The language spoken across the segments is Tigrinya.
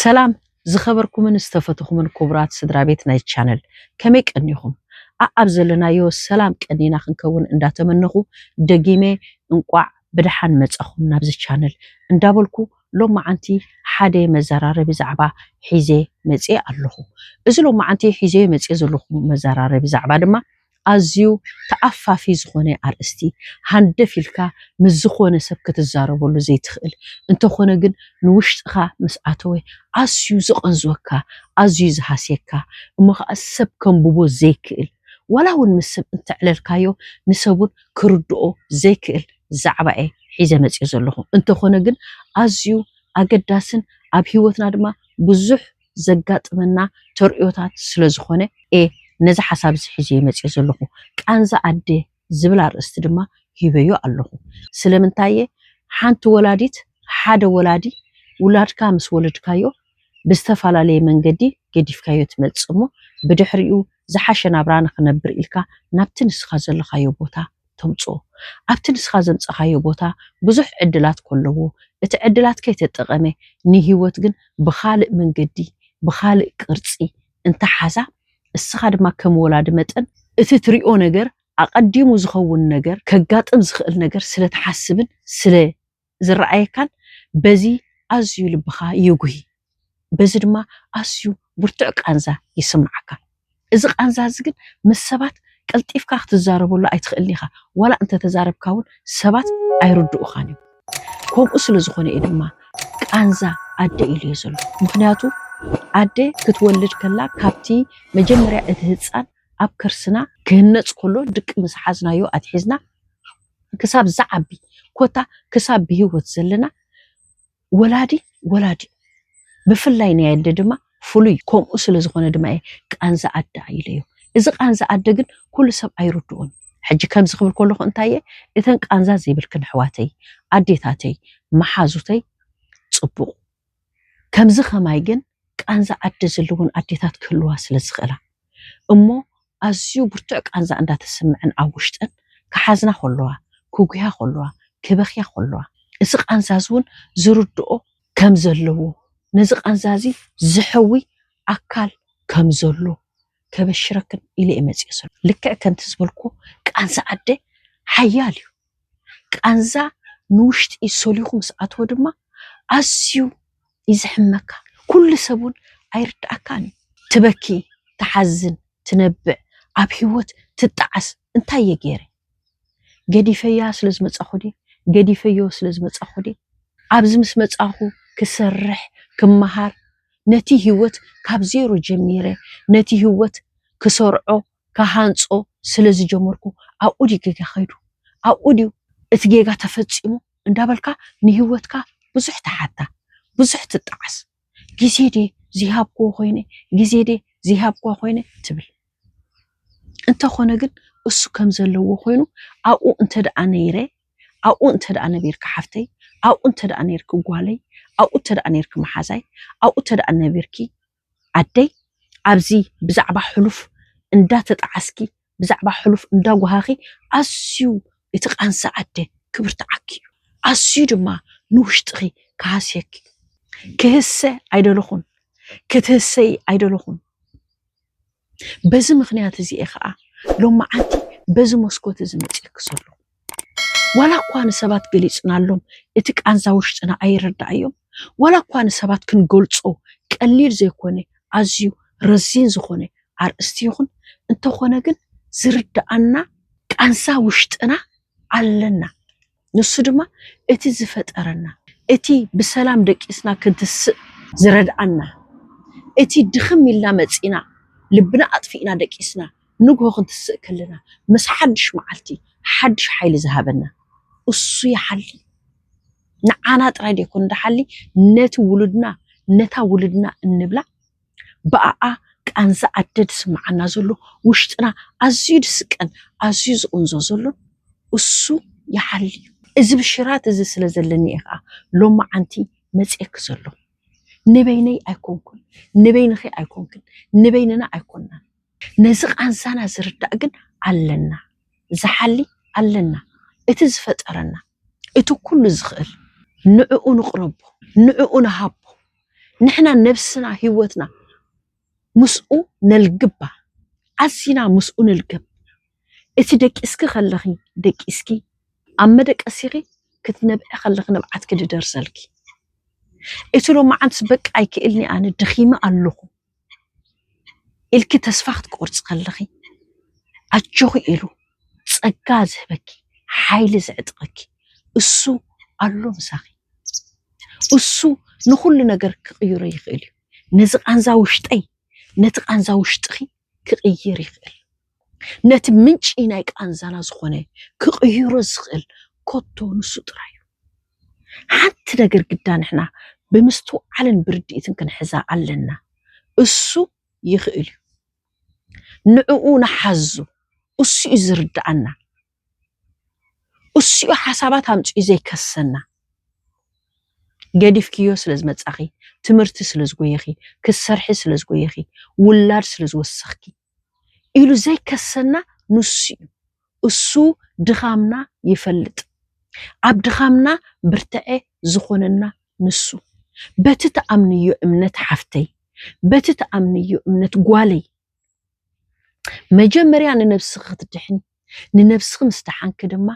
ሰላም ዝኸበርኩምን ዝተፈትኹምን ክቡራት ስድራ ቤት ናይ ቻነል ከመይ ቀኒኹም? ኣኣብ ዘለናዮ ሰላም ቀኒና ክንከውን እንዳተመነኹ ደጊመ እንቋዕ ብደሓን መጻኹም ናብዚ ቻነል እንዳበልኩ ሎማዓንቲ ሓደ መዘራረቢ ዛዕባ ሒዘ መፂኤ ኣለኹ። እዚ ሎማዓንቲ ሒዘዮ መፂኤ ዘለኹ መዘራረቢ ዛዕባ ድማ ኣዝዩ ተኣፋፊ ዝኾነ ኣርእስቲ ሃንደፍ ኢልካ ምስ ዝኾነ ሰብ ክትዛረበሉ ዘይትኽእል እንተኾነ ግን ንውሽጥኻ ምስ ኣተወ ኣዝዩ ዝቐንዝወካ ኣዝዩ ዝሃስየካ እሞ ኻዓ ሰብ ከንብቦ ዘይክእል ዋላ ውን ምስ ሰብ እንተዕለልካዮ ንሰብ ውን ክርድኦ ዘይክእል ዛዕባ'የ ሒዘ መጺኤ ዘለኹ። እንተኾነ ግን ኣዝዩ ኣገዳስን ኣብ ህይወትና ድማ ብዙሕ ዘጋጥመና ተርእዮታት ስለ ዝኾነ እየ ነዚ ሓሳብ'ዚ ሒዘዮ መጺኤ ዘለኹ። ቃንዛ ኣደ ዝብል ኣርእስቲ ድማ ሂበዮ ኣለኹ። ስለምንታይ'የ ሓንቲ ወላዲት፣ ሓደ ወላዲ፣ ውላድካ ምስ ወለድካዮ ብዝተፈላለየ መንገዲ ገዲፍካዮ ትመጽእ እሞ ብድሕሪኡ ዝሓሸ ናብራ ንኽነብር ኢልካ ናብቲ ንስኻ ዘለኻዮ ቦታ ተምጽኦ። ኣብቲ ንስኻ ዘምጸኻዮ ቦታ ብዙሕ ዕድላት ኮለዎ እቲ ዕድላት ከይተጠቐመ ንህይወት ግን ብኻልእ መንገዲ ብኻልእ ቅርጺ እንተሓዛ እስኻ ድማ ከም ወላዲ መጠን እቲ ትሪኦ ነገር ኣቐዲሙ ዝኸውን ነገር ከጋጥም ዝኽእል ነገር ስለትሓስብን ስለ ዝረኣየካን በዚ ኣዝዩ ልብኻ ይጉሂ፣ በዚ ድማ ኣዝዩ ብርቱዕ ቃንዛ ይስምዓካ። እዚ ቃንዛ እዚ ግን ምስ ሰባት ቀልጢፍካ ክትዛረበሉ ኣይትኽእልን ኢኻ፣ ዋላ እንተ ተዛረብካ እውን ሰባት ኣይርድኡኻን እዮም። ከምኡ ስለ ዝኾነ እዩ ድማ ቃንዛ ኣደ ኢሉዮ ዘሎ። ምኽንያቱ ኣደ ክትወልድ ከላ ካብቲ መጀመርያ እቲ ህጻን ኣብ ከርስና ክህነጽ ከሎ ድቂ ምስ ሓዝናዮ ኣትሒዝና ክሳብ ዝዓቢ ኮታ ክሳብ ብሂወት ዘለና ወላዲ ወላዲ እዩ ብፍላይ ናይ ኣደ ድማ ፍሉይ ከምኡ ስለ ዝኮነ ድማ እየ ቃንዛ ኣደ ኣኢለዮ እዚ ቃንዛ ኣደ ግን ኩሉ ሰብ ኣይርድኦን እዩ ሕጂ ከምዚ ክብል ከለኩ እንታይ እየ እተን ቃንዛ ዘይብልክን ኣሕዋተይ ኣዴታተይ መሓዙተይ ጽቡቅ ከምዚ ከማይ ግን ቃንዛ ዓዲ ዝልውን ኣዴታት ክህልዋ ስለ ዝኽእላ እሞ ኣዝዩ ብርቱዕ ቃንዛ እንዳ ተስምዐን ኣብ ውሽጠን ክሓዝና ከለዋ ክጉህያ ከለዋ ክበኽያ ከለዋ እዚ ቃንዛ እዚ ውን ዝርድኦ ከም ዘለዎ ነዚ ቃንዛ እዚ ዝሕዊ ኣካል ከም ዘሎ ከበሽረክን ኢለ እየ መጺኤ ሰሉስ። ልክዕ ከምቲ ዝበልክዎ ቃንዛ ኣደ ሓያል እዩ። ቃንዛ ንውሽጢ ሰሊኹ ምስ ኣትወ ድማ ኣዝዩ እዩ ዝሕመካ። ኩሉ ሰብ እውን ኣይርድኣካን እዩ። ትበኪ፣ ትሓዝን፣ ትነብዕ፣ ኣብ ህይወት ትጣዓስ እንታይ እየ ገይረ? ገዲፈያ ስለ ዝመጻኹ ድየ? ገዲፈዮ ስለ ዝመጻኹ ድየ? ኣብዚ ምስ መጻኹ ክሰርሕ፣ ክመሃር፣ ነቲ ህይወት ካብ ዜሮ ጀሚረ ነቲ ህይወት ክሰርዖ ክሃንጾ ስለ ዝጀመርኩ ኣብኡ ድዩ ጌጋ ከይዱ? ኣብኡ ድዩ እቲ ጌጋ ተፈጺሙ? እንዳበልካ ንህይወትካ ብዙሕ ትሓታ፣ ብዙሕ ትጣዓስ። ግዜ ድየ ዘይሃብክዎ ኮይነ? ግዜ ድየ ዘይሃብክዋ ኮይነ? ትብል። እንተኾነ ግን እሱ ከም ዘለዎ ኮይኑ ኣብኡ እንተደኣ ነይረ፣ ኣብኡ እንተደኣ ነቢርኪ ሓፍተይ፣ ኣብኡ እንተደኣ ነይርኪ ጓለይ፣ ኣብኡ እንተደኣ ነይርኪ መሓዛይ፣ ኣብኡ እንተደኣ ነቢርኪ ዓደይ ኣብዚ ብዛዕባ ሕሉፍ እንዳተጣዓስኪ ብዛዕባ ሕሉፍ እንዳጎሃኺ ኣዝዩ እቲ ቃንዛ ኣደ ክብርትዓኪ እዩ ኣዝዩ ድማ ንውሽጥኺ ክሃስየኪ እዩ ክህሰ ኣይደለኹን ክትህሰዪ ኣይደለኹን በዚ ምኽንያት እዚ እየ ኸኣ ሎምዓንቲ በዚ መስኮት እዚ መጺኤኪ ዘለኹ። ዋላ እኳ ንሰባት ገሊጽናሎም እቲ ቃንዛ ውሽጥና ኣይረዳኣዮም፣ ዋላ እኳ ንሰባት ክንገልጾ ቀሊል ዘይኮነ ኣዝዩ ረዚን ዝኾነ ኣርእስቲ ይኹን፣ እንተኾነ ግን ዝርዳኣና ቃንዛ ውሽጥና ኣለና። ንሱ ድማ እቲ ዝፈጠረና፣ እቲ ብሰላም ደቂስና ክንትስእ ዝረድኣና፣ እቲ ድኽም ኢልና መጺእና ልብና ኣጥፊእና ደቂስና ንግሆ ክንትስእ ከለና ምስ ሓድሽ መዓልቲ ሓድሽ ሓይሊ ዝሃበና እሱ ይሓሊ። ንዓና ጥራይ ደይኮነን ድሓሊ ነቲ ውሉድና ነታ ውሉድና እንብላ ብኣኣ ቃንዛ ኣደ ዝስምዓና ዘሎ ውሽጥና ኣዝዩ ዝስቀን ኣዝዩ ዝቕንዞ ዘሎን እሱ ይሓልዩ። እዚ ብሽራት እዚ ስለ ዘለኒ እየ ኸኣ ሎምዓንቲ መጺኤኪ ዘሎኹ። ንበይነይ ኣይኮንኩን፣ ንበይንኺ ኣይኮንክን፣ ንበይንና ኣይኮንናን። ነዚ ቃንዛና ዝርዳእ ግን ኣለና፣ ዝሓሊ ኣለና፣ እቲ ዝፈጠረና፣ እቲ ኩሉ ዝኽእል። ንዕኡ ንቕረቦ፣ ንዕኡ ንሃቦ። ንሕና ነብስና ህይወትና ምስኡ ነልግባ ኣዚና ምስኡ ንልገብ እቲ ደቂስኪ ከለኺ ደቂስኪ ኣብ መደቀሲኺ ክትነብዒ ከለኺ ንብዓትኪ ድደርሰልኪ እቲ ሎማዓንትስ በቃ ኣይክእልን'የ ኣነ ደኺመ ኣለኹ ኢልኪ ተስፋ ክትቆርፂ ከለኺ ኣጆኺ ኢሉ ፀጋ ዝህበኪ ሓይሊ ዝዕጥቐኪ እሱ ኣሎ ምሳኺ። እሱ ንኹሉ ነገር ክቕይሮ ይኽእል እዩ። ነዚ ቃንዛ ውሽጠይ ነቲ ቃንዛ ውሽጥኺ ክቕይር ይኽእል። ነቲ ምንጪ ናይ ቃንዛና ዝኾነ ክቕይሮ ዝኽእል ኮቶ ንሱ ጥራይ እዩ። ሓንቲ ነገር ግዳ ንሕና ብምስትውዓልን ብርድኢትን ክንሕዛ ኣለና፣ እሱ ይኽእል እዩ። ንዕኡ ንሓዞ፣ እሱ እዩ ዝርድኣና፣ እሱ እዩ ሓሳባት ኣምጺኡ ዘይከሰና። ገዲፍክዮ ስለ ዝመጻኺ፣ ትምህርቲ ስለ ዝጎየኺ፣ ክትሰርሒ ስለ ዝጎየኺ፣ ውላድ ስለ ዝወሰኽኪ፣ ኢሉ ዘይከሰና ንሱ እዩ። እሱ ድኻምና ይፈልጥ። ኣብ ድኻምና ብርተዐ ዝኾነና ንሱ። በቲ ትኣምንዮ እምነት ሓፍተይ፣ በቲ ትኣምንዮ እምነት ጓለይ፣ መጀመርያ ንነብስኺ ክትድሕኒ፣ ንነብስኺ ምስ ደሓንኪ ድማ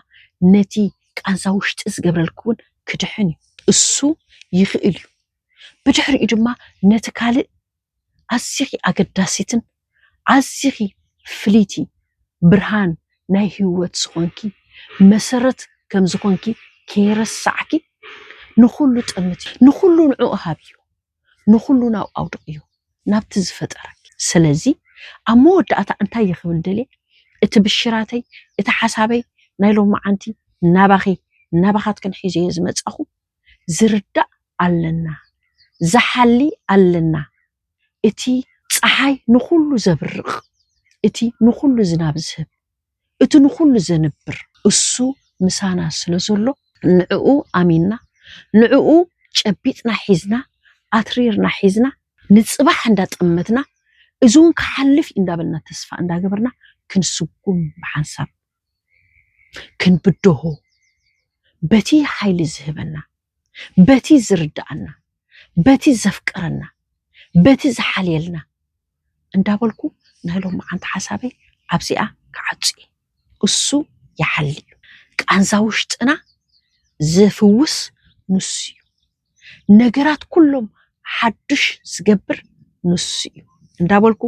ነቲ ቃንዛ ውሽጢ ዝገብረልኪ እውን ክድሕን እዩ። እሱ ይኽእል እዩ። ብድሕሪኡ ድማ ነቲ ካልእ ኣዚኺ ኣገዳሲትን ኣዚኺ ፍልይቲ ብርሃን ናይ ህይወት ዝኾንኪ መሰረት ከም ዝኾንኪ ከይረሳዕኪ ንኹሉ ጠምት እዩ ንኹሉ ንዕኡ ሃብ እዩ ንኹሉ ናብኡ ኣውድቕ እዩ ናብቲ ዝፈጠረኪ ሰለዚ ኣብ መወዳእታ እንታይ እየ ክብል ደልየ እቲ ብሽራተይ እቲ ሓሳበይ ናይ ሎምዓንቲ ናባኺ ናባኻትክን ሒዘዮ ዝመጻኹ ዝርዳእ ኣለና ዝሓሊ ኣለና እቲ ጸሓይ ንኹሉ ዘብርቕ እቲ ንኹሉ ዝናብ ዝህብ እቲ ንኹሉ ዘንብር እሱ ምሳና ስለ ዘሎ ንዕኡ ኣሚንና ንዕኡ ጨቢጥና ሒዝና ኣትሪርና ሒዝና ንጽባሕ እንዳ ጠመትና እዚ ውን ክሓልፍ እዩ እንዳበልና ተስፋ እንዳገበርና ክንስጉም ብሓንሳብ ክንብድሆ በቲ ሓይሊ ዝህበና በቲ ዝርድኣና በቲ ዘፍቅረና በቲ ዝሓልየልና እንዳበልኩ ናይ ሎምዓንቲ ሓሳበይ ኣብዚኣ ክዓጹ እየ። እሱ ይሓሊ እዩ። ቃንዛ ውሽጥና ዝፍውስ ንሱ እዩ። ነገራት ኩሎም ሓዱሽ ዝገብር ንሱ እዩ እንዳበልኩ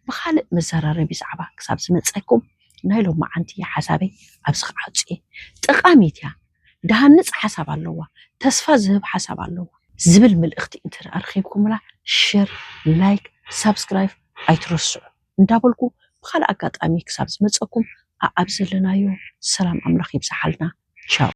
ብኻልእ መዘራረቢ ዛዕባ ክሳብ ዝመፀኩም ናይ ሎማዓንቲ ሓሳበይ ኣብዚ ክዓፁ እየ። ጠቃሚት እያ፣ ድሃንፅ ሓሳብ ኣለዋ፣ ተስፋ ዝህብ ሓሳብ ኣለዋ። ዝብል ምልእኽቲ እንተደኣ ኣርኺብኩምላ ሸር፣ ላይክ፣ ሳብስክራይብ ኣይትረስዑ እንዳበልኩ ብኻልእ ኣጋጣሚ ክሳብ ዝመፀኩም ኣኣብ ዘለናዮ ሰላም ኣምላኽ ይብዝሓልና ቻው።